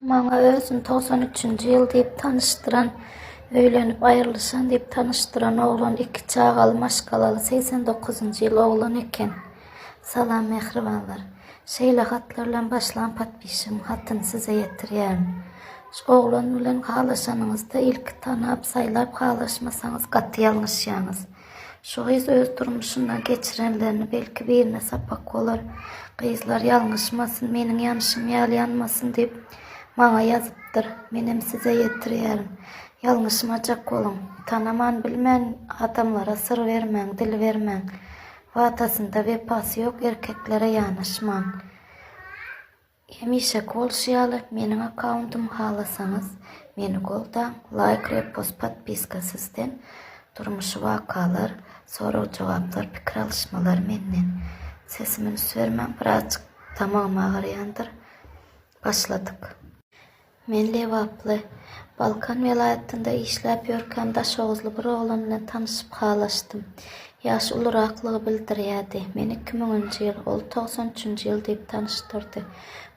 Maňa özüni togsan üçünji ýyl diýip tanyşdyran, öýlenip aýrylyşan diýip tanyşdyran oglan iki çagaly maşgalaly segsen dokuzynjy ýyl oglan eken. Salam mähribanlar. Şeýle hatlar bilen başlan podpisigiň hatyny size ýetirýärin. Şu oglan bilen halaşanyňyzda ilki tanap, saýlap halaşmasaňyz gaty ýalňyşýaňyz. Şu gyz öz durmuşynda geçirenlerini belki birine sapak bolar. Gyzlar ýalňyşmasyn, meniň ýanyşym ýaly ýanmasyn diýip, maňa ýazypdyr. Menem size ýetirýärin. Ýalňyşmajak boluň. Tanaman, bilmän adamlara syr bermäň, dil bermäň. Watasynda wepasy ýok erkeklere ýanaşmaň. Hemişeki bolşy ýaly meniň akkauntum halasaňyz meni goldaň laýk repost podpiska sizden durmuşy wakalar sorag jogaplar pikir alyşmalar menden sesimi üns bermäň birazjyk tamagym agyrýandyr başladyk. Men lebaply. Balkan welaýatynda işläp ýörkäm daşoguzly bir oglan bilen tanyşyp halaşdym. Ýaşy uluraklygy bildirýärdi. Meni iki müňünji ýyl, ol togsan üçünji ýyl diýip tanyşdyrdy.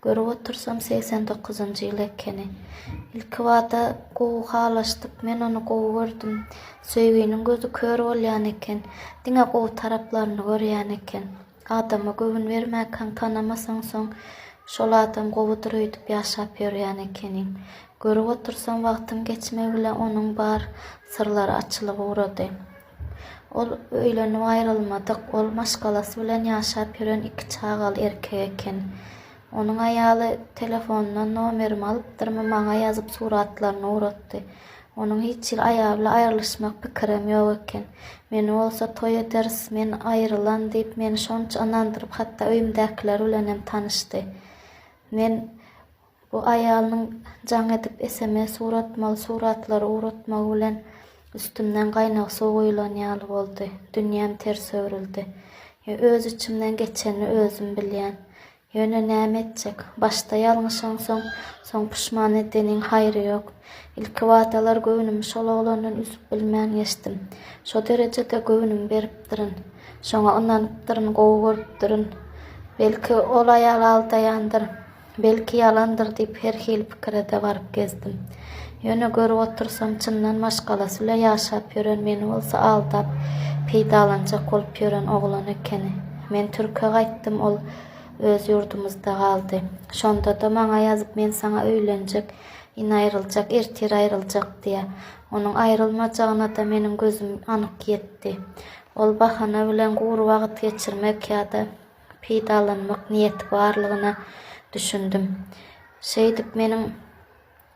Görüp otursam segsen dokuzynjy ýyl ekeni. Ilkibada gowy halaşdyk. Men ony gowy gördüm. Söýginiň gözi kör bolýan eken. Diňe gowy taraplaryny görýän eken. Adama göwün bermäkaň tanamasaň soň şol adam gowudyr öýdüp ýaşap ýörýän ekeniň. Görüp otursam wagtyň geçmegi bilen onuň bar syrlary açylyp ugrady. Ol öýlenip aýrylmadyk, ol maşgalasy bilen ýaşap ýören iki çagaly erkek eken. Onuň aýaly telefonyndan nomerimi alypdyrmy maňa ýazyp suratlaryny ugratdy. Onuň hiç hili aýaly aýrylyşmak pikirem ýok eken. Meni bolsa toý ederis, men aýrylan diýip, meni şonça ynandyryp, hatda öýümdäkiler bilenem tanyşdy. Men bu aýalynyň jaň edip sms ugratmagy, suratlary ugratmagy bilen üstümden gaýnag suw guýulan ýaly boldy. Dünýäm ters öwrüldi. Ýöne öz içimden geçenini özüm bilýän. Ýöne näme etjek? Başda ýalňyş oňsaň, soň puşman edeniň haýry ýok. Ilki wadalar göwnümi şol oglandan üzüp bilmän geçdim. Şo derejede göwnümi beripdirin. Şoňa ynanypdyryn, gowy görüpdirin. Belki, ol aýal aldaýandyr, belki, ýalandyr diýip, her hili pikire-de baryp gezdim. Ýöne görüp otursam, çyndan maşgalasy bilen ýaşap ýören, meni bolsa aldap, peýdalanjak bolup ýören oglan ekeni. Men türke gaýtdym, ol öz ýurdumyzda galdy. Şonda-da maňa ýazyp men saňa öýlenjek, indi aýryljak, ertir aýryljak diýýär. Onuň aýrylmajagyna-da meniň gözüm anyk ýetdi. Ol bahana bilen gury wagt geçirmek ýa-da peýdalanmak niýeti barlygyna düşündim. Şeýdip meniň.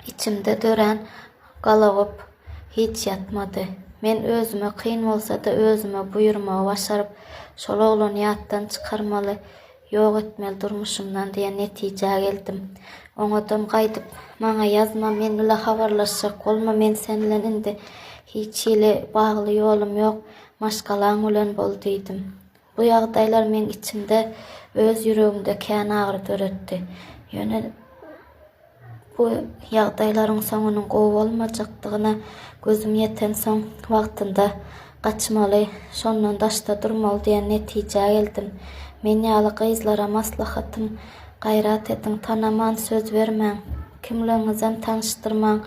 Içimde dörän galagop hiç ýatmady. Men özüme kyn bolsa-da özüme buýurmagy başaryp, şol oglany ýatdan çykarmaly, ýok etmeli durmuşymdan diýen netijä geldim. Oňadan gaýdyp, Maňa ýazma, men bile habarlaşjak bolma, men sen bilen indi hiç hili bagly ýolum ýok, maşgalaň bilen bol diýdim. Bu ýagdaýlar meň içimde, öz ýüregimde kän agyry döretdi. Ýöne bu ýagdaýlaryň soňunyň gowy bolmajakdygyna gözüm ýetensoň, wagtynda gaçmaly, şondan daşda durmaly diýen netijä geldim. Men ýaly gyzlara maslahatym, Gaýrat ediň, tanaman söz bermäň, kimligiňizem tanyşdyrmaň,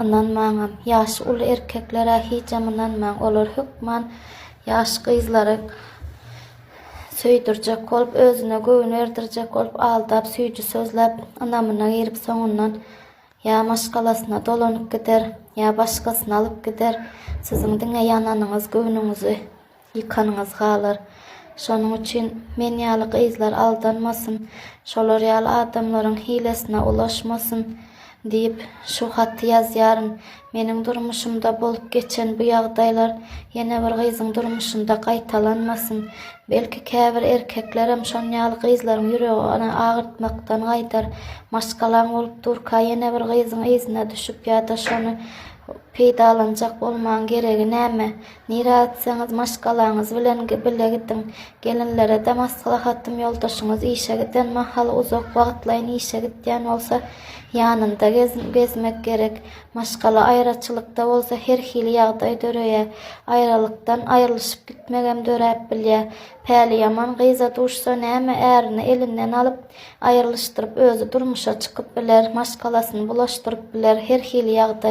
ynanmaňam. Ýaşy uly erkeklere hijam ynanmaň, olar hökman Ýaş gyzlary söýdürjek bolup, özüne göwün erdirjek bolup, aldap, süýji sözläp, ynamyna girip, soňundan ýa maşgalasyna dolanyp gider, ýa başgasyny alyp gider. Siziň diňe ýananyňyz, göwnüňizi ýykanyňyz galar. Şonuň üçin men ýaly gyzlar aldanmasyn, şolar ýaly adamlaryň hilesine ulaşmasyn. Diýip, şu haty ýazýaryn. Meniň durmuşymda bolup geçen bu ýagdaýlar ýene bir gyzyň durmuşynda gaýtalanmasyn. Belki, käbir erkeklerem şon ýaly gyzlaryň ýüregini agyrtmakdan gaýdar. Maşgalaň bolup durka ýene bir gyzyň yzyna düşüp ýa-da şony peýdalanjak bolmagyň geregi näme? Nirä gitseňiz maşgalaňyz bilen bile gidiň. Gelinlere-de maslahatym ýoldaşyňyz işe giden mahaly uzak wagtlaýyn işe gitýän bolsa ýanynda gezmek gerek. Maşgala aýraçylykda bolsa her hili ýagdaý döreýär. Aýralykdan aýrylyşyp gitmegem döräp bilýär. Päli ýaman gyza duşsa näme ärini elinden alyp aýrylyşdyryp özi durmuşa çykyp biler, maşgalasyny bulaşdyryp biler, her hili ýagdaý.